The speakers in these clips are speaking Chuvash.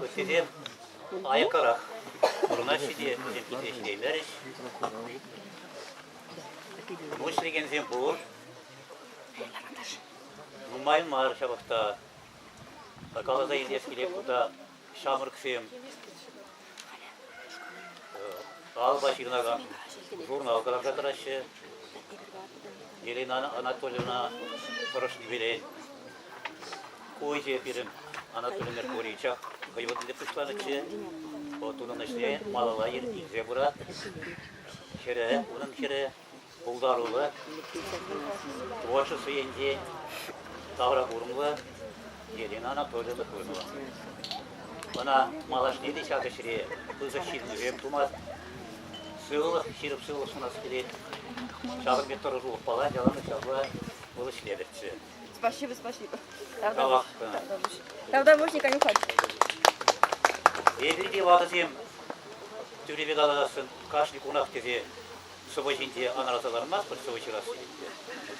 Ыттисем аяккарах вырнаҫҫӗ те йӗркипе ҫитеймерӗҫ. Пуҫ лекенсем пур. Нумай мар ҫавӑхта. Каласа илес килет кунта ҫамрӑксем Алла ҫырӑнакан журнал кӑларса тӑраҫҫӗ. Елена Анатольевна тӑрӑшнипелен ку ӗҫе пирӗн Анатолий Меркурьевича хӑй вырӑнне пуҫланӑччӗ. Вӑл тунӑ ӗҫне малалла илсе пырать. Ҫӗрӗ, унӑн ҫӗрӗ пултаруллӑ, творчество енчен тавра курӑмлӑ Елена Анатольевна Тойнова. Ӑна малашне те ҫак ӗҫре пысӑк ҫитӗнӳсем тумасть. Сывлӑх, ҫирӗп сывлӑх сунас килет. Ҫавӑн пек тӑрӑшулӑх палать, яланах ҫапла вӑл ӗҫлетӗрччӗ. Спасибо, спасибо. Тавтапуҫ, Николай Михайлович. Эпир те ватӑсем тӳрепе калассӑн кашни кунах тесе сӑвӑ ҫинче анраса лармастпӑр сӑвӑ ҫырасси ӗнтӗ.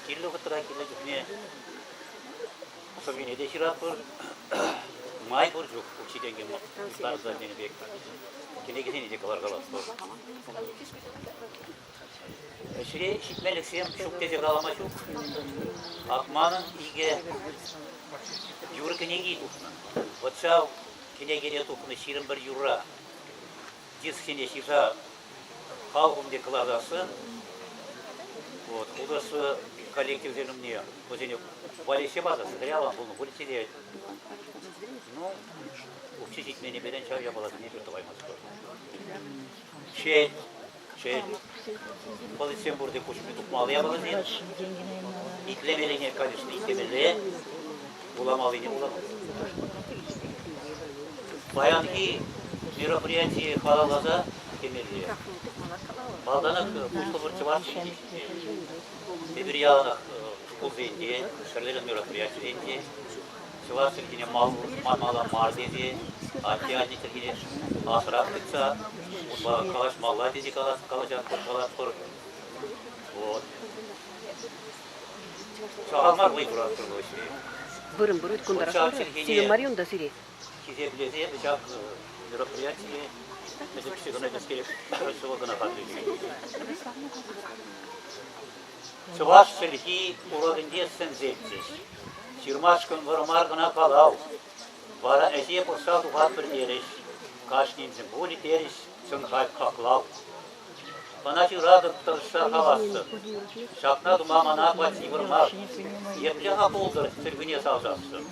Кирлӗ вӑхӑтра кирлӗ чухне сӑввине те ҫыратпӑр. Май пур чух учительне парса тенӗ пек кӗнекесене те кӑларкалатпӑр. Ӗҫре ҫитмелӗхсем ҫук тесе калама ҫук. Акманӑн икӗ юр кӗнеки тухнӑ. Вӑтшав кӗнекене тухнӑ ҫирӗм пӗр юрра. Кӗсхине ҫыса халхум пек кӑларасшӑн. Вот, художество коллективсен умне вӗсене валеҫсе патӑр, сӑкӑряван пулнӑ пуль те. Ну, укҫи ҫитменнипелен ҫав япаласене пир тӑваймастпӑр. Шел, шел, полицем пурте куҫ умне тухмалла япаласем. Итлемеллине, конечно, итлемелле. вуламаллине вуламасть. Паянхи мероприятие халалласа темелле. Малтанах условӑр чӑвашсенче эпир яланах шкулсенче, ҫӗрлерен мероприятисенче чӑваш чӗлхине мала мар тесе, атте-анне чӗлхине асрах тытса унпа калаҫмалла тесе калатпӑр, калатпӑр. Вот. Сахал мар вӑй хуратпӑр вӑй. Вырӑн вырӑт кунтарасшӑн сирӗн мар унта сире. Хисеплесе ҫак мероприятие мӗн кӗске кӑна кӗске ҫӑвӑл кӑна Чӑваш чӗлхи урокӗнче сӗнсеччӗҫ. Ҫырмашкӑн вӑрмар кӑна калав. Вара ӗҫе пӑхса тухатпӑр терӗҫ. Кашниншӗн пулӗ терӗҫ сӑн-хак хаклав. Мана ҫыратӑп тӑршшӗ хавассӑн. Ҫакна тума мана плати йывӑр мар. Епле-ха пултӑр чӗлхӳне савсассӑн?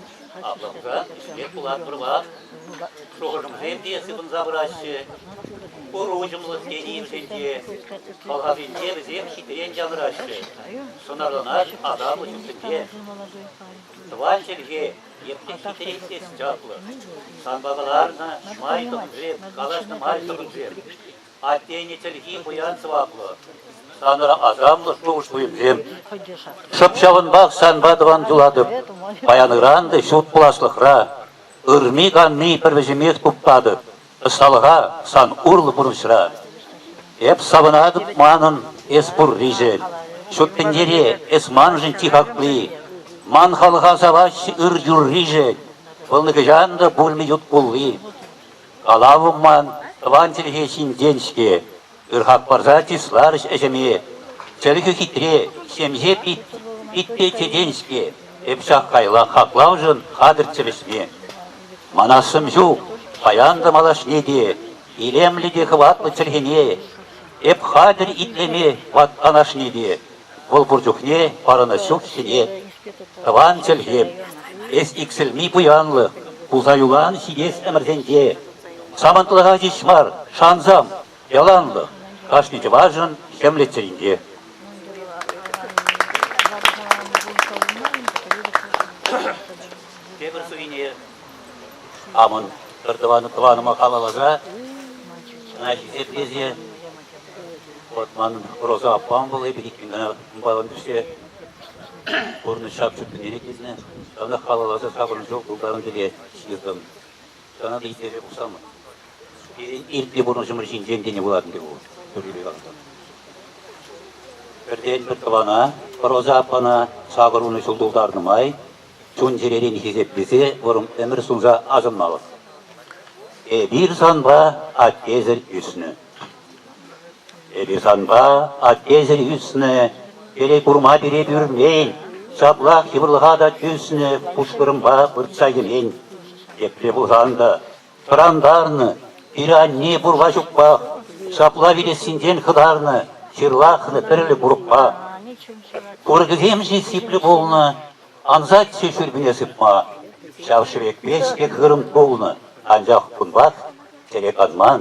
Аплӑ хусан, ӗҫлет пулат вӑрман. Шухӑшӑмсем те сыпӑнса пыраҫҫӗ. Пур уҫӑмлӑх тени-имшенте. Хӑлхасенче вӗсем хитрен янӑраҫҫӗ. Сӑнарланать асамлӑ чунсемпе. Тӑван чӗлхе епле хитре ӳсес чаплӑ. Санпа кӑларнӑ май тӑхӑнсем, калаҫнӑ май тӑхӑнсем. Аттене чӗлхи пуян сӑваплӑ. Санӑра асамлӑ шухӑш-туйӑмсем. Шӑп ҫавӑнпах санпа тӑван юлатӑп. Паян-ыран та ҫут пуласлӑхра ырми-канми пӗр вӗҫӗмех туптатӑп ӑсталӑха сан урлӑ пурнӑҫра. Эп савӑнатӑп манӑн эс пурришӗн, ҫут тӗнчере эс маншӑн чи хакли. Ман халӑха саваҫҫӗ ыр юрришӗн, вӑл нихӑҫан та пулмӗ ют кулли. Калав ман тӑван чӗлхе ҫинчен-ҫке. Ырхак пӑрса чысларӗҫ ӗҫӗме. Чӗлхе хитре, ҫемҫе питпе чечен-ҫке. Эп ҫак кайла хаклавшӑн хатӗрччӗ вӗҫме. Манассым ҫук, паян та малашне те, илемлӗ те хӑватлӑ чӗлхене. Эп хатӗр итлеме ват канашне те. Вӑл пур чухне парӑнӑҫ ҫук ҫӗре, тӑван чӗлхе, эс иксӗлми пуянлӑх, пулса юлан ҫитес ӗмӗрсенче. Самантлӑха ҫеҫ мар, шансам, яланлӑх, кашни чӑвашӑн ҫӗмлет чӗринче. Тепӗр суйне амӑн пӗртӑван тӑванӑма халалласа ӑна хисеплесе Вӑт манӑн Роза аппам вӑл эпӗ иккӗн кӑна унпалан пӗҫсе пурӑнӑҫ ҫак ҫут тӗнчене килнӗ. Ҫавна халалласа сакӑрмӗш ҫул тултаран пире ҫыртӑм. Ҫавна та итлесе пухсамӑр. Пирӗн иртнӗ пурнӑҫӑмӑр ҫинчен тенӗ вулатӑн те ку тӳррипе каласан. Пӗртен-пӗр тӑвана, Роза аппана сакӑр вунӑ ҫул тултарнӑ май чун-чӗререн хисеплесе вӑрӑм ӗмӗр сунса асӑнмалӑх. Эпир санпа аттесӗр ӳснӗ. Эпӗ санпа, аттесӗр ӳснӗ, пире курма пире пӳрмен, ҫаплах йывӑрлӑха та тӳснӗ пушкӑрӑмпа выртса йӗмен. Епле пулсан та тӑрантарнӑ, пире-анне пурпа ҫукпах, ҫапла вилессинчен хӑтарнӑ, ҫырлахнӑ тӗрлӗ курӑкпа. Курӑкӗсем-ши сиплӗ пулнӑ, ансаччӗ шӳрпене сыпма. Ҫав шӗвекпе-ҫке хырӑм тулнӑ, анчах кунпах тӗрек анман.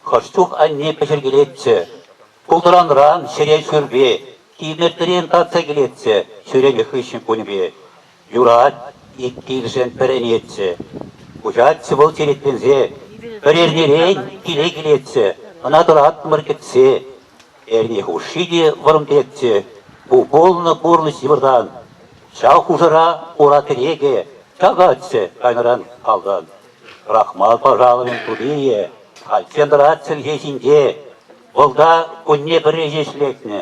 Хӑш чух анне пӗҫеркелетчӗ, пултӑранран ҫӗре шӳрпе, тимӗртӗрен татса килетчӗ ҫӳренӗ хыҫҫӑн кунӗпе. Юрать, ик килшӗн пӗр ӗнетчӗ. Куҫатчӗ вӑл черетленсе, пӗр эрнерен киле килетчӗ, ӑна тӑраттӑмӑр кӗтсе. Эрне хушши те вӑрӑм тетчӗ ку пулнӑ пурнӑҫ йывӑртан. Ҫав хушӑра ура кӗрекӗ чакатчӗ кайнӑран-калтан. Рахмат пашалӑхӗн тутийӗ кайса тӑрать чӗлхе ҫинче. Вӑлта кунне пӗрре ҫеҫ лекнӗ.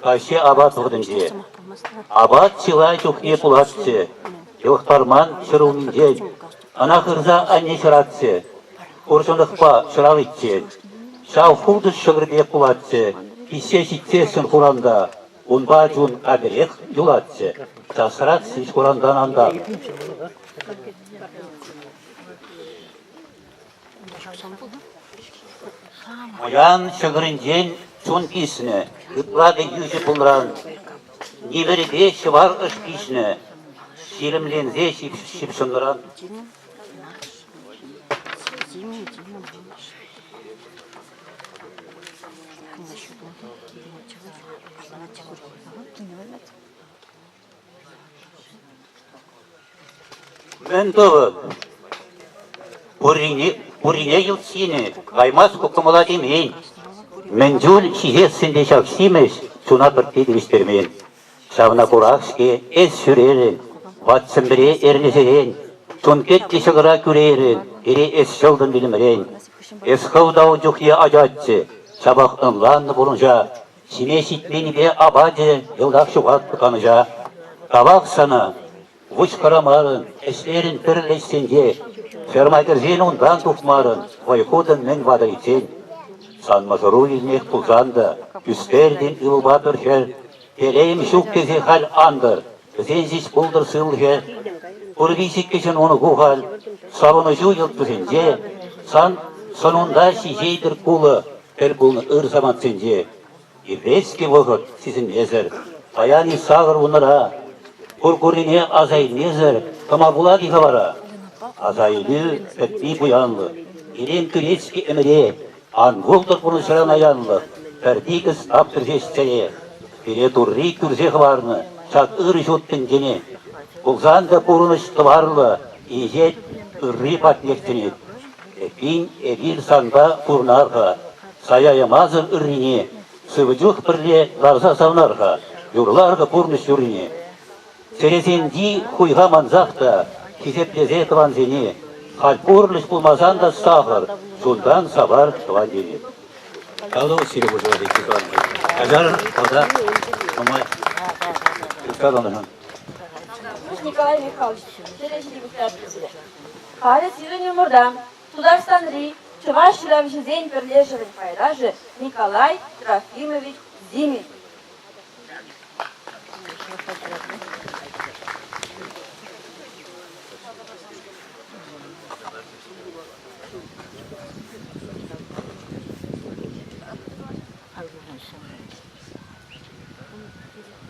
Каҫхи апат вӑхӑтӗнче. Апат чылай чухне пулатчӗ. Йӑлӑхтарман ҫӗр умӗнчен. Ӑна хырса анне ҫӑратчӗ. Хурҫӑнлӑхпа ҫӑраличчен. Ҫав хуртӑш ҫӑкӑр пек пулатчӗ. Пиҫсе ҫитсессӗн хуранта. Унпа чун аперех юлатчӗ, часрах ҫич хурантан антар. Пуян ҫӑкӑрӗнчен чун писнӗ, ытларӗ йӳҫӗ пулран. Ниверӗпе ҫӑвар ӑш пиҫнӗ, ҫирӗмленсе ҫыпҫӑнран. Мӗн тӑвӑ? Пуррине ют синӗ, каймас ку кӑмӑла темен. Мӗн чуль ҫиес ӗнтӗ ҫак симӗс, чуна пӗртте тивӗҫтермен. Ҫавна курах-ҫке эс ҫӳрерӗн, ват Сӗмпӗре эрнесерен, чун петли ҫӑкӑра кӳрейрӗн, пире эс ҫӑлтӑн вилӗмрен. Эс хӑв та ун чухне ачаччӗ, ҫапах ӑнланнӑ пурнӑҫа, ҫиме ҫитменнипе апачӗ йӑлтах ҫухатнӑ канӑҫа. Тавах сана. Вӑйкӑрамарӑн, ӗҫлерӗн пӗр леҫсенче, ферма кӗрсен унтан тухмарӑн, вӑй хутӑн мӗн ватӑличчен. Сан мӑшӑру илмех пулсан та, ӳстертӗн ывӑлпа пӗр хӗр, телейӗм ҫук тесе халь ан тӑр, вӗсен ҫеҫ пултӑр сывлӑхӗ. Пур виҫӗккӗшӗн унӑку халь, савӑнӑҫу йӑлт-тусенче, сан сӑнунта ҫиҫетӗр кулӑ, тӗл пулнӑ ыр самантсенче. Епрехский вӑхӑт сисӗнмесӗр, паян-и сакӑр вуннӑра, Куркурине аса илмесӗр тӑма пулать-и-ха вара? Асаилӳ пӗтни пуянлӑх. Илем кӳрет-ҫке ӗмӗре, Ан пултӑр пурнӑҫран аянлӑх, Пӗр тикӗс аптӑр ҫеҫ чӗре. Пире Турри кӳрсе хӑварнӑ ҫак ырӑ ҫут тӗнчене. Пулсан та пурӑнӑҫ тӑварлӑ инҫет ырри патнех чӗнет. Эппин, эпир санпа пурӑнар-ха. Сая ямасӑр ыррине сывӑ чух пӗрле ларса савнар-ха, юрлар-ха пурнӑҫ юррине. Чӗресенчи хуйха мансах та хисеплесе тӑвансене, халь пурлӑх пулмасан та сахӑр, чунтан савар тӑван ене. Калу сире пуҫӑма тетти тӑванки. Каҫар пата нумай. Каланӑ. Николай Михайлович, сире ҫитӗ пуҫтарчӗ. Халӗ сирӗн умӑрта Тутарстанри чӑваш ҫыравҫисен пӗрлешӗвӗн пайташӗ Николай Трофимович Зимин.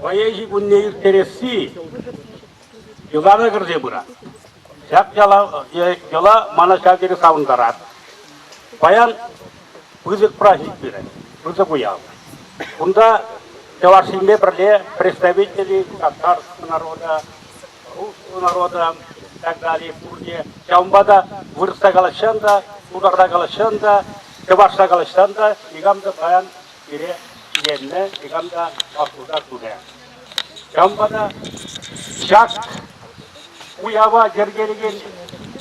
Вӑйӑ ҫитӗнне ирттересси Йӑлана кӗрсе пырать. Ҫак яла, йӑла мана ҫав тери савӑнтарать. Паян пысӑк праҫник пирӗн, пысӑк уяв. Кунта чӑвашсемпе пӗрле представители татарский народа, русский народа и так далее пурне ҫавӑнпа та вырӑсла калаҫсан та, тутарла калаҫсан та, чӑвашла калаҫсан та никам та паян пире киленнӗ, никам та вашлуха турӗ. Кам вара ҫак уява йӗркелекен?